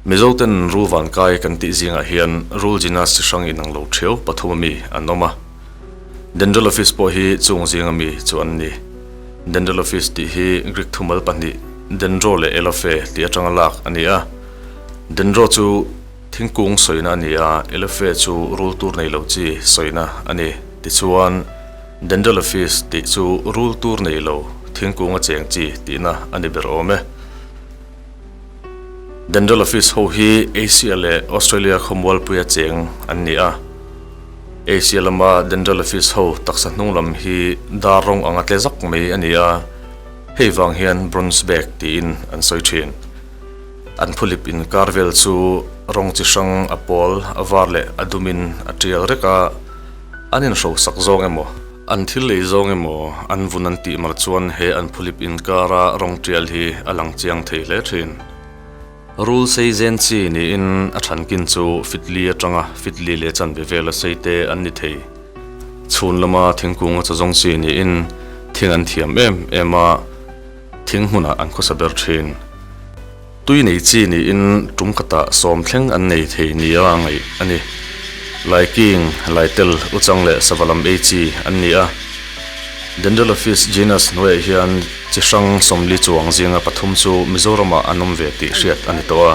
Mizo ten rul van kai kan tih zingah hian rul zina si hrang inang lo theu pathum a mi an awm a. Dental office pawh hi chung zing a mi chu an ni. Dental office tih hi Greek thumal pahnih dendro leh elophe tih atanga lak a ni a. Dendro chu. Thingkung sawina a ni a, LFA chu rule tur nei lo chi sawina a ni. Tichuan, Dental Office tih chu rule tur nei lo thingkung a cheng chi tihna a ni ber awm e. Dental Office ho hi Asia leh Australia khawmualpui a cheng an ni a. Asia lama Dental Office ho taksa hnunglam hi dar rawng anga tle zak mai a ni a, hei vang hian Bronze Bag tiin an sawi thin. An phulip inkar vel chu rawng chi hrang a pawl, a var leh a dumin a tial rek a. An inhrosak zawng emaw, an thil lei zawng emaw an vun an tih mar chuan he an phulip inkara rawng tial hi a lang chiang thei hle thin. Rule sei zen chi niin a thankin chu fitli atanga fitli leh chanve vela seite an ni thei. Chhun lama thingkunga chazawng chi niin thing an thiam em em a. Thing hmunah an khawsa ber thin. Tui nei chi niin tum khatah sawm thleng an nei thei nia a ngaih a ni. Laiking, Laitel, Uchang leh Sava lam ei chi an ni a. Dendrelaphis genus hnuaih hian chi hrang sawmli chuang zinga pathum chu Mizoramah an awm ve tih hriat a ni tawh a.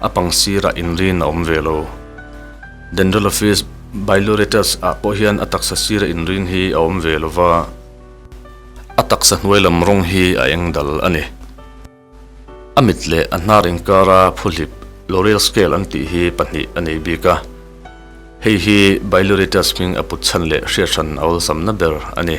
A pang sirah inrin a awm ve lo. Dental Office, Bailuretas, ah pawh hian a taksa sira inrin hi a awm ve lo va, a taksa hnuai lam rawng hi a eng dal a ni. A mit leh a hnar inkara phuhlip, loreal scale, an tih hi pahnih a nei bik a, hei hi Bailuretas hming a put chhan leh hriathrân a awlsamna ber a ni.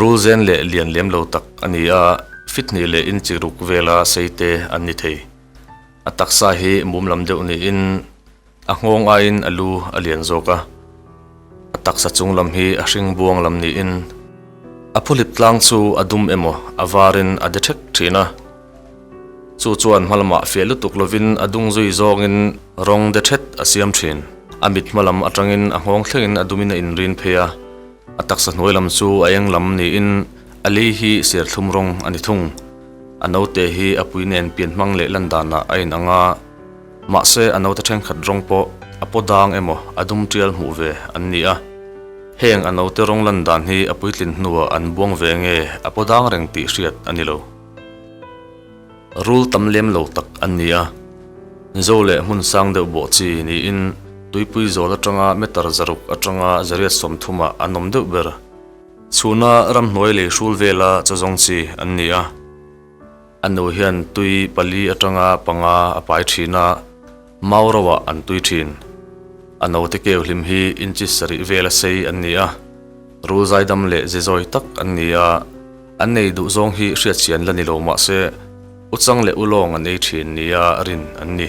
Rul zen leh lian lem lo tak a ni a, fithnih leh inchi ruk vela sei te an ni thei. A taksa hi mum lam deuh niin a nghawng aiin a lu a lian zawk a. A taksa chung lam hi a hring buang lam niin a phuhlip tlang chu a dum emaw a varin a de thek thin a. Chu chuan hma lamah fiah lutuk lovin a dung zui zawngin rawng de thet a siam thin. A mit hma lam atangin a nghawng thlengin a dumin a inrin phei a. A taksa hnuai lam chu a eng lam niin a lei hi serthlum rawng a ni thung. A naute hi a pui nen pian hmang leh lan danah a in ang a. Mahse a naute thenkhat rawng pawh a paw dang emaw a dum tial hmuh ve an ni a. Heng a naute rawng lan dan hi a puitlin hnuah an buang ve nge a paw dang reng tih hriat a ni lo. Rul tam lem lo tak an ni a, mizo leh hmun sang deuh bawh chi niin tuipui zawl atanga meter zaruk atanga zariat sawmthumah an awm deuh ber. Chhuna ramhnuai lei hrul vela chu zawng chi an ni a, a nu hian tui pali atanga panga a pai thin a, Mau ro ah an tui thin. A note keu hlim hi inchi sarih vel a sei an ni a, rul zaidam leh zizawi tak an ni a, an nei duh zawng hi hriatchian la ni lo mahse u chang leh u lawng an ei thin nia rin an ni.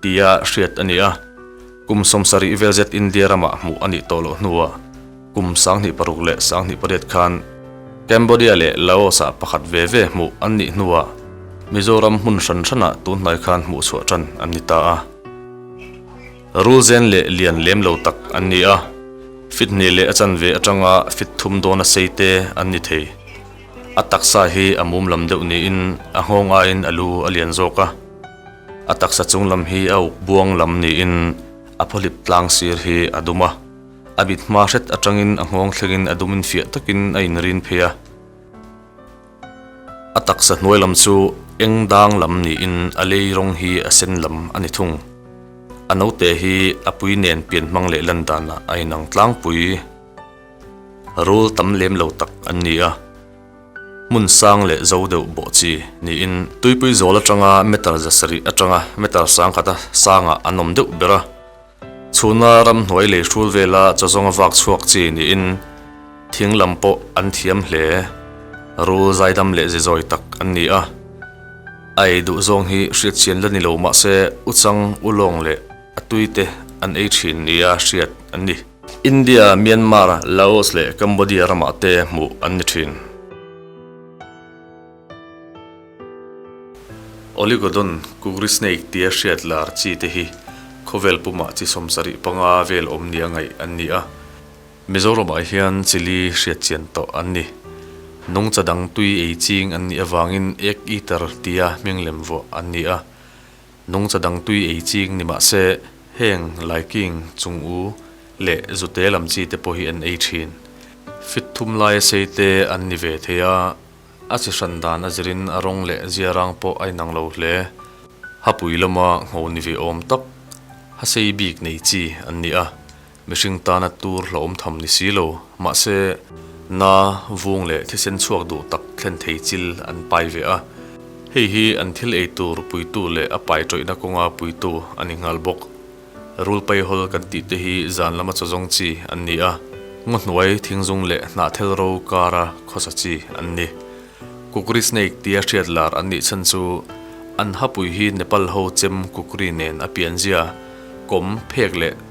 tia hriat a ni a. Kum sawmsarih vel zet India ramah hmuh a nih tawh loh hnuah kum sanghnih paruk leh sanghnih pariat khan Cambodia leh Laos-ah pakhat ve ve hmuh an nih hnuah Mizoram hmun hran hranah tunhnai khan hmuh chhuah ṭan an ni ta a. Rul zen leh lian lem lo tak an ni a, fithne leh a chanve aṭanga fit thum dawn a sei te an ni thei. A taksa hi a mum lam deuh niin a nghawng aiin a lu a lian zawk a. A taksa chung lam hi a uk buang lam niin a pawhlip tlang sir hi a dum a, a mit hma hret atangin a nghawng thlengin a dumin fiah takin a inrin phei a. A taksa hnuai lam chu eng dang lam niin a lei rawng hi a sen lam a ni thung. A naute hi a pui nen pian hmang leh lan danah a inang tlangpui. Rul tam lem lo tak an ni a. Hmun sang leh zo deuh bawh chi niin tuipui zawl atanga meter zasarih atanga meter sangkhata sangah an awm deuh ber a. Chhuna ramhnuai lei hrul vela chawzawng a vak chhuak chi niin thing lam pawh an thiam hle. Rul zaidam leh zizawi tak an ni a. A ei duh zawng hi hriatchian la ni lo mahse u chang u lawng leh a tuite an ei thin nia hriat an ni. India, Myanmar, Laos leh Cambodia ramah te hmuh an ni thin. Oligodon, Kukri snake tia hriat lar chi te hi khawvel pumah chi sawm sarih panga vel awm nia ngaih an ni a. Mizoramah hian chili hriat chian tawh an ni. Nungcha dang tui ei ching an nih avangin Ek eater tia hming lem vuah an ni a. Nungcha dangtui ei ching ni mah se, heng Laiking chung u leh zute lam chi te pawh hi an ei thin. Fit thum laia sei te an ni ve thei a, a chi hran dan a zir in a rawng leh zia rang pawh a inang lo hle. Hapui lama ngho ni ve awm tak, hasei bik nei chi an ni a, Mihring tana tur hlauhawm tham ni si lo. Mahse, na, vung leh thisen chhuak duh tak thlen thei chil an pai ve a. Hei hi an thil ei tur puitu leh a pai tawihna kawnga puitu a ni nghal bawk. Rul pai hawl kan tih te hi zan lama chaw zawng chi an ni a, ngaw hnuai thing zung leh hnah thel ro kara khawsa chi an ni. Kukri snake tia hriat lar an nih chhan chu an hapui hi Nepal ho chem kukri nen a pianzia, kawm, phek leh.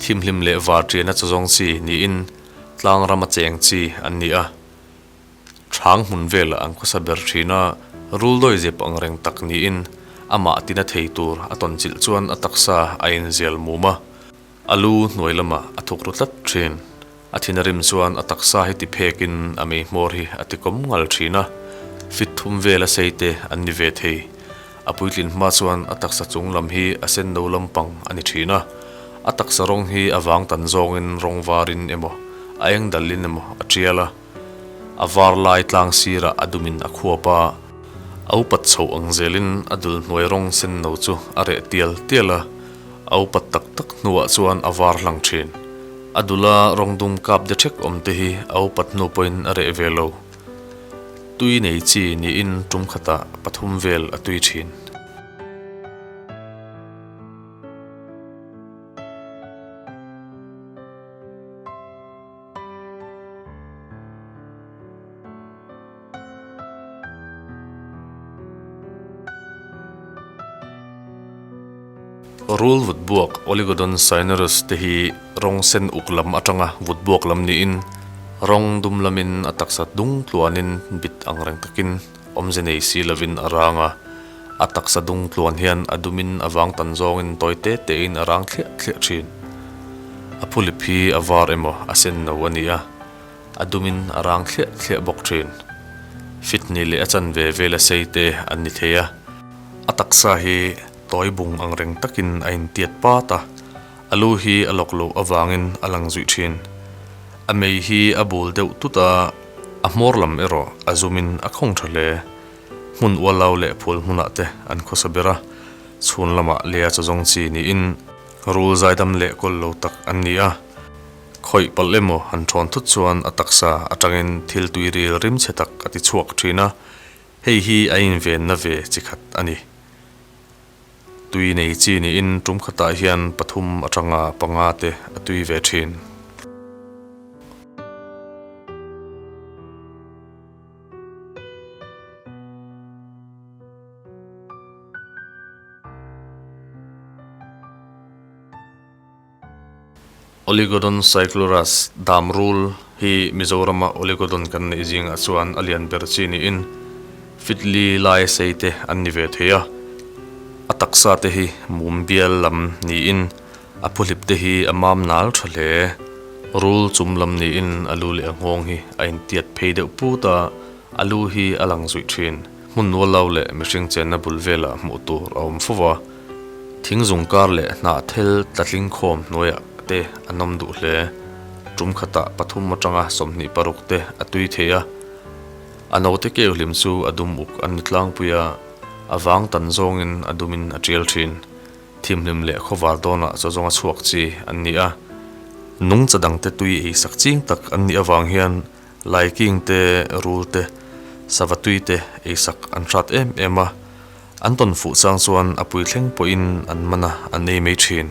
Thimhlim leh var tiana chu zawng chi niin tlang rama cheng chi an ni a. Chhang hmun vela an khawsa ber thin a, rul dawi zep ang reng tak niin amah tina thei tur a tawnchilh chuan a taksa a inzial mum a, a lu hnuai lamah a thuk ru tlat thin. A thinrim chuan a taksa hi ti phekin a meihmawr hi a tikom ngal thin a, fit thum vela seite an ni ve thei. A puitlin hma chuan a taksa chung lam hi a senno lampang a ni thin a. A taksa rawng hi a vang tan zawngin rawng varin emaw, a eng dalin emaw a tial a. A var lai tlang sirah a dumin a khuap a. A upat chhoh ang zelin a dulhnuai rawng senno chu a reh tial tial a. A upat tak tak hnuah chuan a var hlang thin. A dula rawng dum kap de thek awm te hi a upat hnu pawhin a reh ve lo. Tui nei chi niin tum khata pathum vel a tui thin. Rul vutbuak, Oligodon cinereus, te hi rawng sen uk lam atanga vutbuak lam niin rawng dum lamin a taksa dung tluanin bit ang reng takin awmze nei si lovin a rang a. A taksa dung tluan hian a dumin a vang tan zawngin tawi te tein a rang thliah thliah thin. A phulip hi a var emaw a senno a ni a. A dumin a rang thliah thliah bawk thin. Fitni leh a chan ve vel a sei te an ni thei a. A taksa hi tawi bung ang reng takin a in tiat pat a. A lu hi a lawk loh avangin a lang zuih thin. A mei hi a bul deuh tut a, a hmawr lam erawh a zumin a khawng tha hle. Hmun ualau leh phul hmunah te an khawsa ber a, chhun lamah Lia Chawzawng chi niin rul zaidam leh kawllo tak an ni a. Khawih palh emaw han ṭhawn thut chuan a taksa aṭangin thil tuiril rimchhe tak a ti chhuak ṭhin a, Hei hi a invenna ve chi khat a ni. Tui nei chi niin ṭum khatah hian pathum aṭanga panga te a tui ve ṭhin. Oligodon cyclurus dam rul hi Mizorama oligodon kan neih zingah chuan a lian ber chi niin fitli lai sei te an ni ve thei a. A taksa te hi mum bial lam niin a phuhlip te hi a mam nal tha hle. Rul chum lam niin a lu leh a nghawng hi a intiat phei deuh put a, a lu hi a lang zuih thin. Hmun nuallo leh mihring chenna bul velah hmuh tur a awm fuh a, thing zung kar leh hnah thel tla tling khawm hnuaiah te an awm duh hle. Tum khatah pathum atanga sawmhnih paruk te a tui thei a, a note keu hlim chu a dum uk an ni tlangpui a, a vang tan zawngin a dumin a tial thin. Thimhlim leh khawvar dawnah chawzawng a chhuak chi an ni a. Nungcha dangte tui ei sak ching tak an nih avang hian Lai King te Rul te sava tui te eisak an hrat em em a, an tawn fuh chang chuan a pui thleng pawhin an mana an ei mai thin.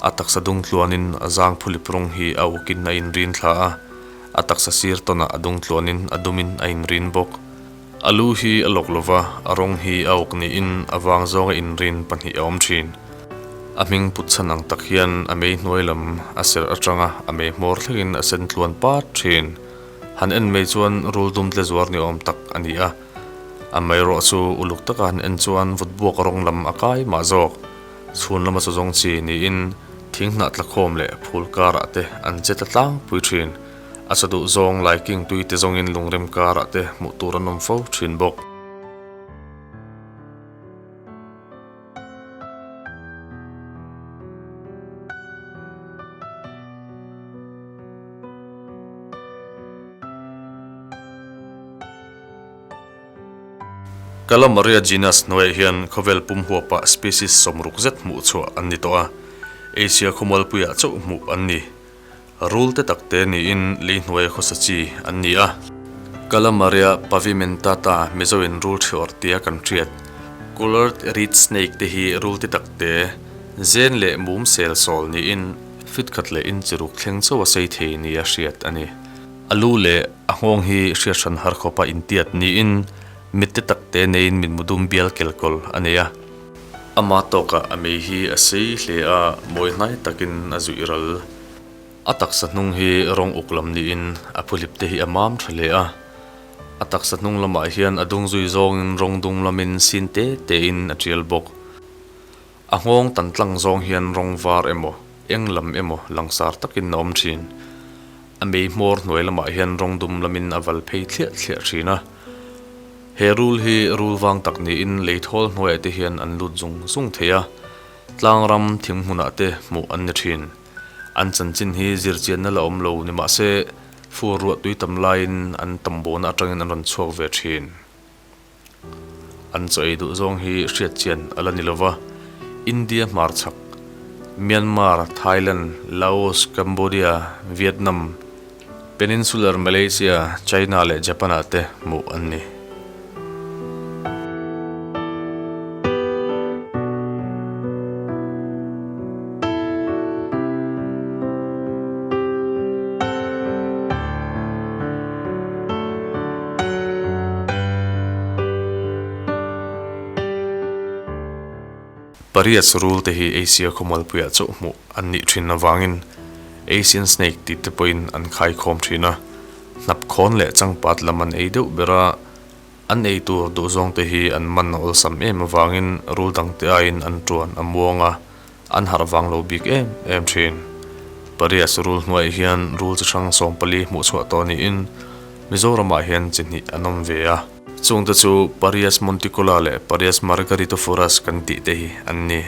A taksa dungtluanin a zang phulip rawng hi a ukin a inrin thla a, a taksa sir tawnah a dungtluanin a dumin a inrin bawk. A lu hi a lawk lo va, a rawng hi a uk niin a vang zawnga inrin pahnih a awm thin. A hming putchhan ang tak hian a mei hnuai lam a serh atanga a mei hmawr thlengin a sen tluan pat thin. Han en mai chuan rul dum tle zuar ni awm tak a ni a. A mei rawh chu uluk takah han en chuan vutbuak rawng lam a kai mah zawk. Chhun lama chu zawng chi niin thing hnah tlakhawm leh phul karah te an che ta tlangpui thin. A sa duh zawng Lai King tui te zawngin lungrem karah te hmuh tur an awm fo thin bawk. Calamaria genus hnuaiah hian khawvel pum huap ah species sawm ruk zet hmuh chhuah an ni tawh a, Asia khawmualpuiah chauh hmuh an ni. Rulte tak te niin lei hnuaia khawsa chi an ni a. Calamaria pavimentata Mizoin rul ṭhiawr tia kan hriat. Coloured reed snake te hi rulte tak te, zen leh mum sel sawl niin fit khat leh in chi ruk thleng chauh a sei thei nia hriat a ni. A lu leh A nghawng hi Hriathrân Harkhawpa intiat niin mitte takte neiin min mudum bial kelkawl a nei a. Amah tawkah a mei hi a sei hle a, mawi hnai takin a zuih ral. A taksa hnung hi rawng uk lam niin a phuhlipte hi a mam ṭha hle a. A taksa hnung lamah hian a dung zui zawngin rawng dung lamin sin te tein a ṭial bawk. A nghawng tan tlang zawng hian rawng var emaw, eng lam emaw langsar takin a awm thin. A meihmawr hnuai lamah hian rawng dum lamin a val phei thliah thliah thin a. He rul hi rul vang tak niin lei thawl hnuaiah te hian an lut zung zung thei a. Tlang ram thing hmunah te hmuh an ni thin. An chanchin hi zir chianna la awm lo nimahse, fur ruah tui tam laiin an tam bawna atangin an rawn chhuak ve thin. An chaw ei duh zawng hi hriatchian a la ni lo va, India hmarchhak, Myanmar, Thailand, Laos, Cambodia, Vietnam, Peninsular Malaysia, China leh Japan-ah te hmuh an ni. Pariat surul te hi Asia khawmualpuiah chauh hmuh an nih thin avangin Asian Snake tih te pawhin an khai khawm thin a. Hnap khawn leh changpat lam an ei deuh ber a. An ei tur duh zawngte hi an man a awlsam em avangin rul dangte aiin an ṭuan a muang a, an harh vang lo bik em em ṭhin. Pariat chu rul hnuaiah hian rul chi hrang sawm pali hmuh chhuah tawh niin Mizoramah hian chi hnih an awm ve a. Chungte chu Parias monticola leh Parias margaritophorus kan tih te hi an ni.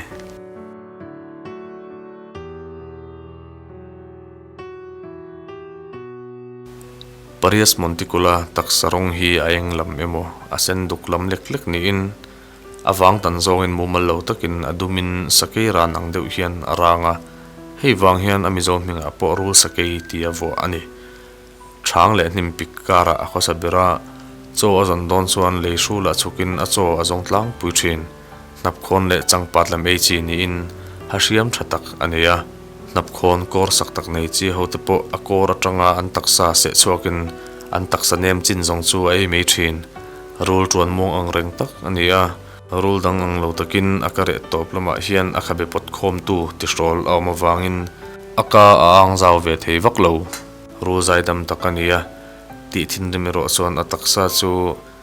Parias Monticular taksa rawng hi a eng lam emaw a sen duk lam lek lek niin a vang tan zawngin mumal lo takin a dumin sakei ran ang deuh hian a rang a, hei vang hian a Mizo hmingah pawh rul sakei ti a vuah a ni. Chhang leh hnim pik karah a khawsa ber a, chaw a zawn dawn chuan lei hrula chukin a chaw a zawng tlangpui thin. Hnapkhawn leh Changpat lam ei chi niin ha hriam tha tak a nei a, Hnapkhawn kawr sak tak nei chi hote pawh a kawr atanga an taksa seh chhuakin an taksa nem chin zawng chu a ei mai thin. Rul tuan muang ang reng tak a ni a. Rul dang ang lo takin a ka reh tawp lamah hian a kha be pawt khawmtu tihrawl a awm avangin a ka a ang zau ve thei vak lo. Rul zaidam tak a ni a tih thinrim erawh chuan a taksa chu.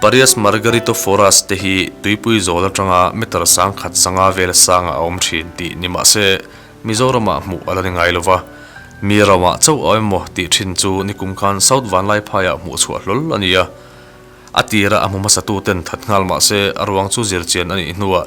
Parias Margarito Foras te hi tuipui zawl atanga meter sangkhat sanga vel sanga a awm thin tih ni mahse Mizoramah hmuh a la ni ngai lova mi ramah chauh au emaw tih thin chu nikum khan South Vanlai phaiah hmuh chhuah hlawl a nia. A tira a hmu hmasa tuten that nghal mahse a ruang chu zirchian a nih hnuah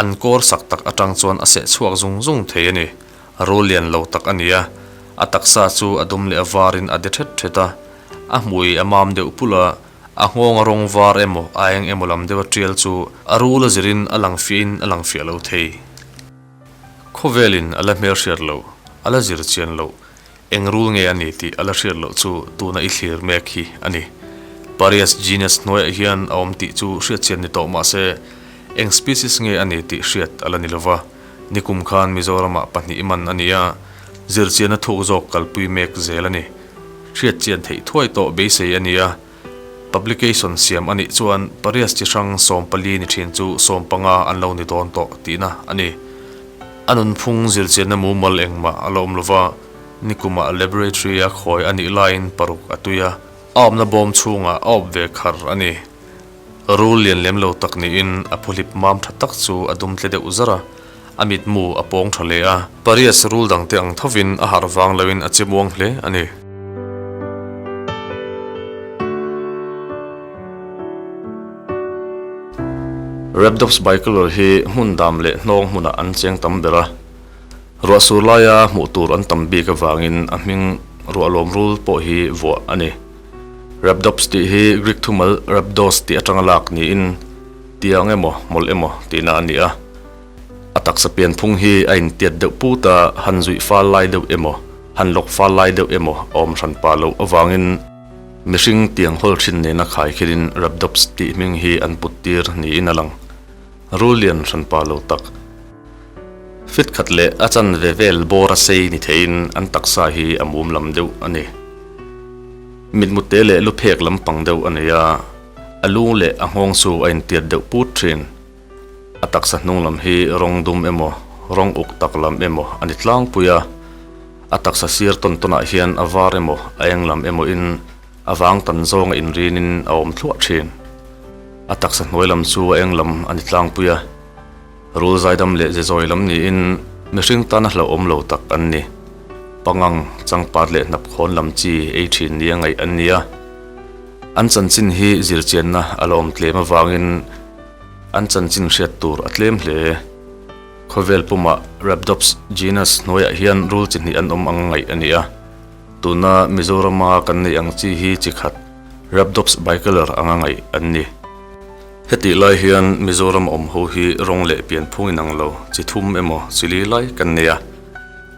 An kawr sak tak atang chuan a seh chhuak zung zung thei a ni. A rul lian lo tak a nia. A taksa chu a dum leh a varin a de ṭhet ṭhet a. A hmui a mam deuh pul a. A nghawng-a rawng var emaw a eng emaw lam deuha ṭial chu a rula zirin a lang fiahin a lang fiah lo thei. Khawvelin a la hmelhriat loh, a la zir chian loh. Eng rule nge a ni tih a la hriat loh chu tuna i thlir mek hi a ni. Parias genus hnuaiah hian a awm tih chu hriatchian ni tawh mahse, eng species nge a ni tih hriat a la ni lo va. Nikum khan Mizoramah pahnih man a ni a, zirchianna thuk zawk kalpui mek zel a ni. Hriatchian theih thuai tawh beisei a ni a. Publication siam a nih chuan pariat chi hrang sawm pali ni thin chu sawm panga an lo ni dawn tawh tihna a ni. A nunphung zirchiatna mumal engmah a la awm lova, nikumah laboratory a khawi a nih laiin paruk a tui a, a awmna bawm chhungah a awp ve khar a ni. Rul lian lem lo tak niin a phuhlip mam tha tak chu a dum tle deuh zar a, A mitmu a pawng tha hle a. Pariat rul dangte ang thovin a harh vang loin a che muang hle a ni. Rabdop's Bicolor hi hmun dam leh hnawng hmunah an cheng tam ber a. Ruah sur laia hmuh tur an tam bik avangin a hming ruah lawm rul pawh hi vuah a ni. Rabdop's tih hi Greek thumal Rabdos tih atanga lak niin, Tiang emaw, mawlh emaw tihna a ni a, a taksa pian phung hi a intiat deuh put a, han zuih fal lai deuh emaw, han lawk fal lai deuh emaw a awm hran pah loh avangin mihring tiang hawl thin nena khai khilhin Rabdops tih hming hi an put tir niin a lang. Rul lian hran pah lo tak. Fit khat leh a chan ve vel bawra sei ni theiin an taksa hi a mum lam deuh a ni. Mitmute leh luphek lampang deuh a ni a. A lung leh a nghawng chu a intiat deuh put thin. A taksa hnung lam hi rawng dum emaw, rawng uk tak lam emaw a ni tlangpui a. A taksa sir tawn tawnah hian a var emaw, a eng lam emawhin a vang tan zawnga inriinin a awm thluah thin. A taksa hnuai lam chu a eng lam a ni tlangpui a. Rul zaidam leh zezawi lam niin mihring tana hlauhawm lo tak an ni. Pangang, changpat leh hnapkhawn lam chi ei thin nia ngaih an nia. An chanchin hi zirchianna a lawm tlem avangin an chanchin hriat tur a tlem hle. Khawvel pumah Rhabdops genus hnuaiah hian rul chi hnih an awm anga ngaih a nia. Tuna Mizorama kan neih ang chi hi chi khat Rhabdops bicolor anga ngaih an ni. Hetih lai hian Mizoram awm ho hi rawng leh pian phung in ang lo, chi thum emaw chi li lai kan nei a.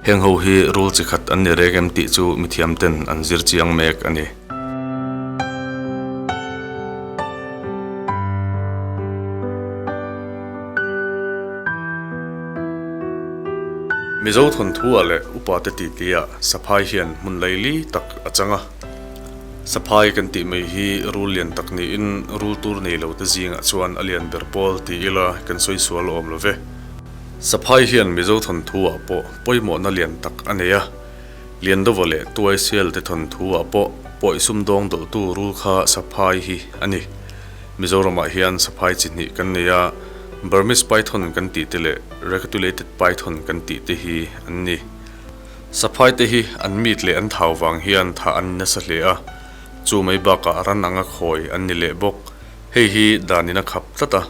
Heng ho hi rul chi khat an ni reng em tih chu mi thiam ten an zir chiang mek a ni. Mizo thawnthu ah leh upa te titli ah saphai hian hmun lei li tak a chang a. Saphai kan tih mai hi rul lian tak niin rul tur nei lo te zingah chuan a lian ber pawl ti ila kan sawi sual awm lo ve. Saphai hian Mizo thawnthu ah pawh pawimawhna lian tak a nei a, lian dova leh tuaisel te thawnthu ah pawh pawi sum dawng dawlh tu rul kha saphai hi a ni. Mizoram ah hian saphai chi hnih kan nei a, Burmese Python kan tih te leh Recatulated Python kan tih te hi an ni. Saphaite hi an mit leh an thau vang hian thah an innasa hle a, chu mai bakah ran anga khawi an ni leh bawk. Hei hi dan ina khap tlat a,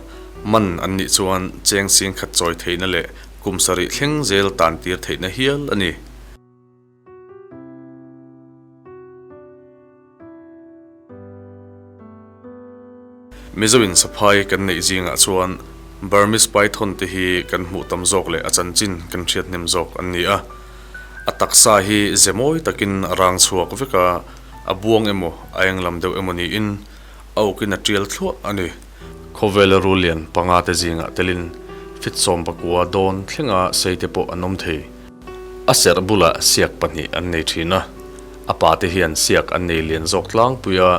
man an nih chuan cheng sing khat chawi theihna leh kum sarih thleng zel tan tir theihna hial a ni. Mizo in saphai kan neih zingah chuan Burmese Python te hi kan hmuh tam zawk leh a chanchin kan hriathnem zawk an ni a. A taksa hi ze mawi takin a rang chhuak vek a, a buang emaw a eng lam deuh emaw niin a ukin a tial thluah a ni. Khawvel rul lian panga te zingah telin fitsawm pakua dawn thlenga sei te pawh an awm thei. A serh bulah siak pahnih an nei thin a, a pa te hian siak an nei lian zawk tlangpui a,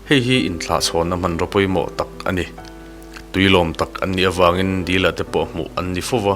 hei hi inthlahchhawnna hmanraw pawimawh tak a ni. Tui lawm tak an nih avangin dila te pawh hmuh an ni fo va.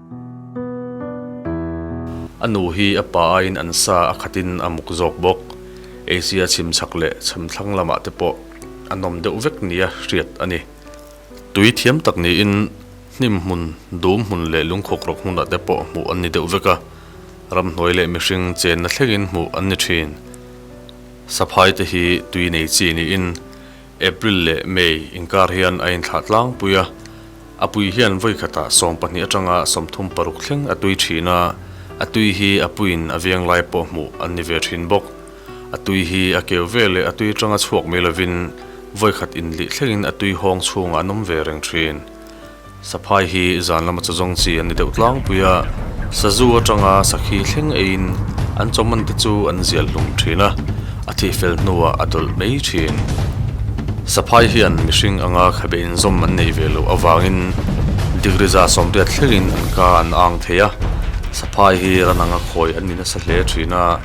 A nu hi a pa aiin an sa a khatin a muk zawk bawk. Asia chhim chak leh chham thlang lamah te pawh a nawm deuh vek nia hriat a ni. Tui thiam tak niin hnim hmun, dum hmun leh lungkhawk rawk hmunah te pawh hmuh an ni deuh vek a. Ramhnuai leh mihring chenna thlengin hmuh an ni thin. Saphai te hi tui nei chi niin. April leh May inkar hian a inthlah tlangpui a, a pui hian vawikhatah sawm pahnih atanga sawmthum paruk thleng a tui thin a, a tui hi a puiin a veng lai pawh hmuh an ni ve thin bawk. A tui hi a keu ve leh a tui tanga chhuak mai lovin vawikhat inlih thlengin a tui hawng chhungah an awm ve reng thin. Saphai hi zan lama chu zawng chi an ni deuh tlangpui a, Sazu atanga sakhi thleng eiin an chawman te chu an zial hlum thin a, a thih fel hnuah a dawlh mai thin. Saphai hian mihring anga khabe inzawm an neih ve loh avangin Digri za sawmriat thlengin an ka an ang thei a, Saphai hi Rananga khawi an ni nasa hle thin a,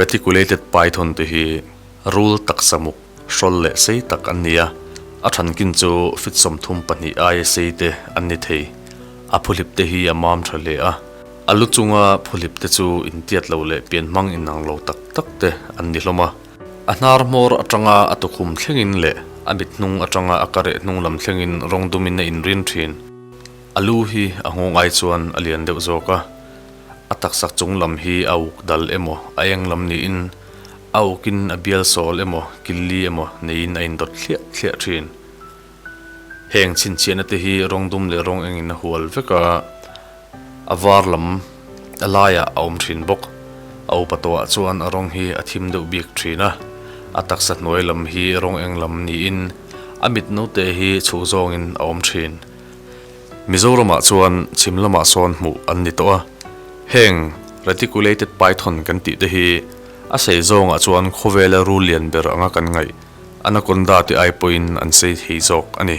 Reticulated python te hi rul taksa muk hrawl leh sei tak an ni a, a thankin chu feet sawmthum pahnih aia sei te an ni thei. A phuhlip te hi a mam tha hle a, a lu chunga phuhlip te chu intiat loh leh pian hmang inang lo tak tak te an ni hlawm a. A hnar hmawr atanga a tukhum thlengin leh a mithnung atanga a ka reh hnung lam thlengin rawng dumin a inrin thin. A lu hi a nghawng ai chuan a lian deuh zawk a. a taksa chung lam hi a uk dal emaw, a eng lam niin a ukin a bial sawl emaw, killi emaw neiin a indawt thliah thliah thin. Heng chhinchhiahna te hi rawng dum leh rawng engin a hual vek a, a var lam a laiah a awm thin bawk. A upa tawhah chuan a rawng hi a thim deuh bik thin a, a taksa hnuai lam hi rawng eng lam niin a mitno te hi chhuh zawngin a awm thin. Mizoramah chuan chhim lamah sawn hmuh an ni tawh a, heng reticulated python kan tih te hi a sei zawngah chuan khawvela ru lian ber anga kan ngaih anaconda te ai pawhin an sei thei zawk a ni.